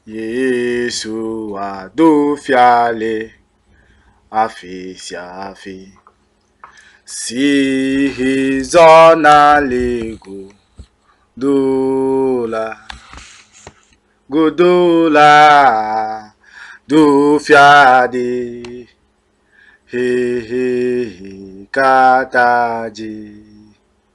Yesu wa do fia le afi sia afi. Si he zɔna le go do la godo la do fia de. He he he kata dzi.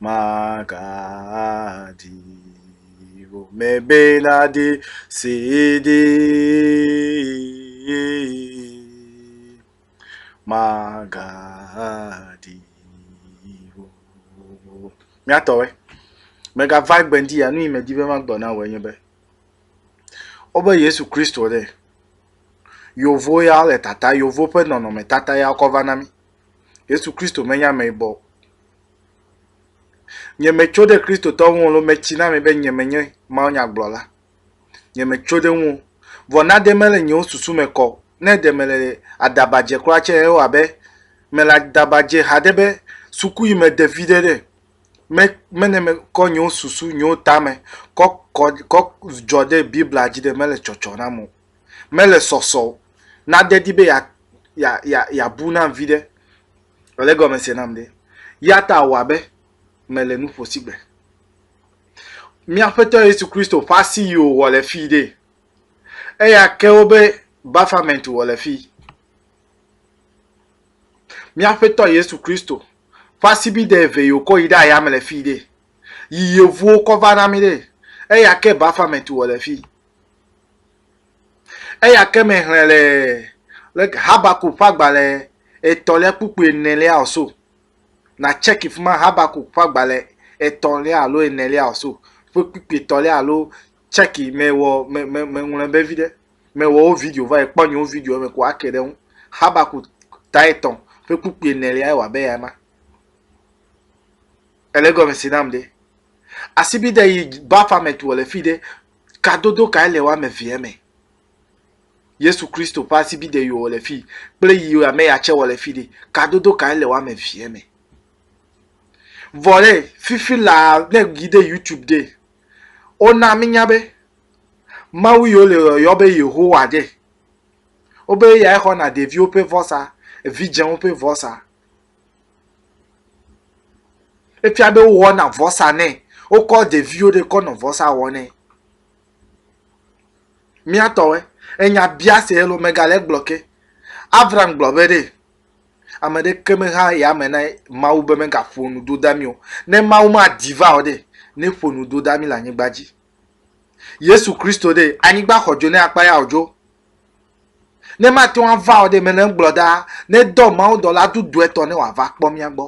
magadi o mebeladi sidi magadi o miatɔwe megava gbendi ya nu yi medi be magblɔ na wɔ enye be wobe yesu kristo ɖe yovo ya le tata yovo ƒe nɔnɔme tata ya kɔ va na mi Yesu Kristo menye ameyibɔ o. Nye metso ɖe Kristotɔ ŋu alo metsi na mi be nye menye mawunyagblɔla. Nye metso ɖe ŋu. Vɔ na ɖe mele nyewo susu me kɔ. Ne ɖe mele adaba dze kura tse ewa be mele adaba dze haɖe be suku yi me ɖevi ɖe ɖe. Me mene me kɔ nyewo susu nyewo tame kɔ kɔ kɔ dzɔ ɖe Biblia dzi ɖe mele tsɔtsɔ nam o. mele sɔsɔ o, nade di be yeabu nam viɖe. Èle egɔme se nam ɖe? Ya ta wɔ abe mele nu ƒo sigbe. Mía Aƒetɔ Yesu Kristo ƒe asi yi wòwɔ le fii ɖee. Eya ke wobe Baphomet wɔ le fii. Mía Aƒetɔ Yesu Kristo ƒe asibide eve yi wòkɔ yi ɖe ayame le fii ɖee. Yi yevuwo kɔ va na mí ɖee. Eya ke Baphomet wɔ le fii. Eya ke me hlẽ le le Habakuk ƒe agbalẽ etɔ̃lia kpukpui enelia o so. Na tseki fi ma Habakuk ƒe agbalẽ etɔ̃lia alo enelia o so ƒe kpukpui etɔ̃lia alo tseki me wɔ me me me ŋlɔe be vi ɖe. Me wɔ wo video va ekpɔ nyewo video eme ko ake ɖe ŋu. Habakuk ta etɔ̃ ƒe kpukpui enelia ewɔ abe ya ma. Ele gɔme si nam ɖe. Asibide yi bafa me tu le fi ɖe Kadodo kae le woame evea me? Yesu Kristo ƒe asibide yewɔ le fii kple yi ame ya tsɛ wɔ le fii ɖe, kadodo kae le woame evea me? Vɔ ɖe, fifi laa ne èyi ɖe YouTube ɖe, wona míenya be Mawu yi wole yɔyɔ be Yehowa ɖe, wobe eyae xɔna ɖeviwo ƒe vɔsa, evidzɛwo ƒe vɔsa. Efia be wowɔna vɔsa nɛ. Wokɔ ɖeviwo ɖe kɔ nɔ vɔsa wɔ nɛ. Mía tɔwoe. Enya bia se ye lo megale egblɔ ke. Abraham gblɔ be ɖe ame ɖeke mexa yame na Mawu be megaƒo nu do da mí o. Ne Mawu madi va o ɖe, neƒo nu do da mí le anyigba dzi. Yesu Kristo ɖe, anyigba xɔ dzo ne akpa ya o dzo. Ne mate ŋu ava o ɖe, mele egblɔ ɖaa, nedɔ mawudɔla dudu etɔ̃ ne wòava kpɔ mía gbɔ.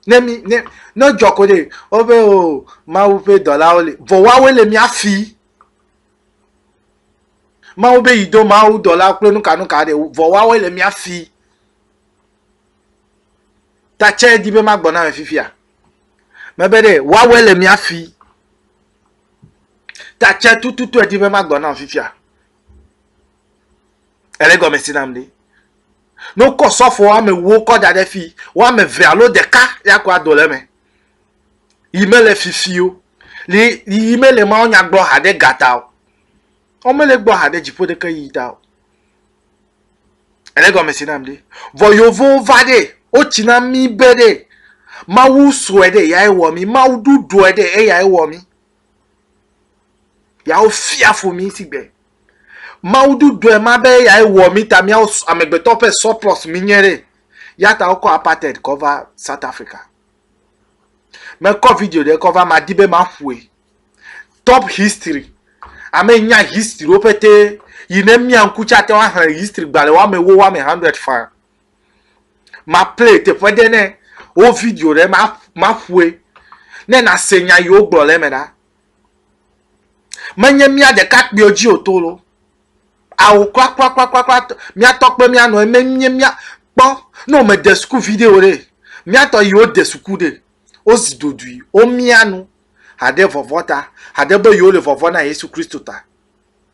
Ne mí, ne, ne edzɔ ko ɖe, wobe o, Mawu ƒe dɔlawo li. Vɔ woawoe le mía si. Mawu be yido mawudɔlawo kple nukanuka ɖe, vɔ woawoe le mía si. Ta tsɛ di be magbɔ na ame fifia. Mebe ɖe, woawoe le mía si. Ta tsɛ tututu edi be magbɔ na ame fifia. Ele gɔme si nam ɖi. Ne wokɔ sɔfo woame ewo kɔ da ɖe fi, woame eve alo ɖeka ya ko ado le eme. Yi mele fifi o. Li yi mele mawunya gblɔ haɖe ga ta o. Womele gbɔ haɖe dziƒo ɖeke yi ta o. Ele gɔme si nam ɖi. Vɔ yovowo va ɖe, wotsi na mí be ɖe, Mawu srɔ̃e ɖe eyae wɔ mí. Mawu ɖuɖɔe ɖe eyae wɔ mí. Yawo fia fo mi si gbe. Mawu du dɔe ma be ya ye wɔ mi ta miawo amegbetɔ ƒe surplus mi nye re. Ya ta wokɔ apartheid kɔ va South Africa. Me kɔ video ɖe kɔ va ma di be ma ƒoe. Top history. Ame nya history wo pete yi ne mia ŋku tsa te wa hã history gbalẽ wa me wo wa me 100 fã. ma play teƒe ɖe ne wo video ɖe ma ma ƒoe ne na se nya yi wogblɔ le eme ɖa menye mía ɖeka kpuiwo dzi o to lo awo kura kura kura kura kura mía tɔ kpe mía nɔ eme nye mía kpɔ ne wome de suku video ɖe mía tɔ yi wo de suku ɖe wo zi dodui wo mía nu haɖe vɔvɔ ta haɖe be yewo le vɔvɔ na yesu kristu ta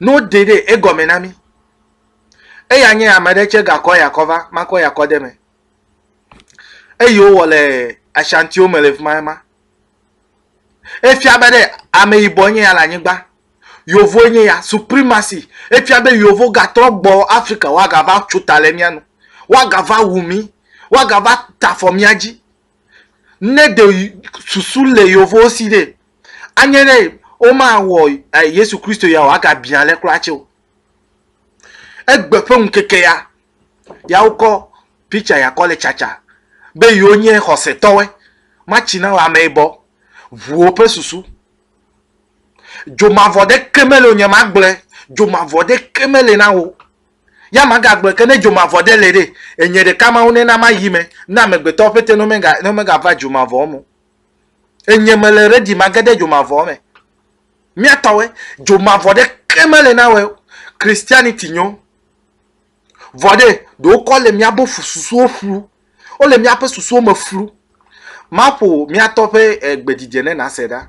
Ne woɖe ɖe egɔme na mí. Eya nye ame ɖe tse gakɔ ya kɔ va, makɔ ya kɔ de me. Eyi wowɔ le Ashantiwo me le fima ema. Efia be ɖe ame yibɔ nye ya le anyigba. Yovoe nye ya, supremacy. Efia be yovo gatrɔ gbɔ Afrika woagava tso ta le mía nu. Woagava wu mí. Woagava ta afɔ mía dzi. Ne ɖe susu le yevowo si ɖe, anye ɖe womawɔ eh, Yesu Kristo ya o, agabiã ale kura tse o. Egbe ƒe ŋkeke ya, ya wokɔ picture ya kɔ le tsatsa be yewo nye xɔsetɔwe, matsi na wɔ ameyibɔ, ʋuwo ƒe susu. Dzomavɔ ɖeke mele o, nyemagblɔe, dzomavɔ ɖeke mele na wo. Ya magagblɔe ke ne dzomavɔ ɖe le ɖe, enye ɖeka Mawu nena mayi me na amegbetɔwo ƒete ne womega, ne womegava dzomavɔwo me o. Enye mele ready mage ɖe dzomavɔwo me. Mía tɔwoe, dzomavɔ ɖeke mele na woe o. Christianity nyo. Vɔ ɖe, ɖe wokɔ le mía bo fu susuwo flu. Wole míaƒe susuwo me flu. Maƒo mía tɔ ƒe eh, gbedzidzɛ ne nàse ɖa.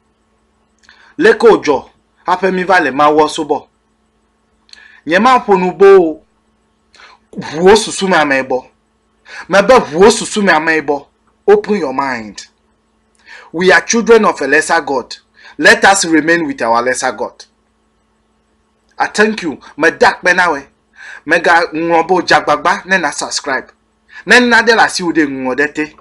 Leke wòdzɔ hafi míva le Mawua subɔ? Nyemaƒo nu boo o. Ʋuwo susu me amee bɔ. Mebe ʋuwo susu me amee bɔ. Open your mind. We are children of a lesser God. Let us remain with our lesser God. I thank you. Meda akpe na wòe. Mègaŋlɔ be o, dze agbagba ne nàsubscribe. Ne naɖe le asiwò ɖe, ŋlɔ ɖe te.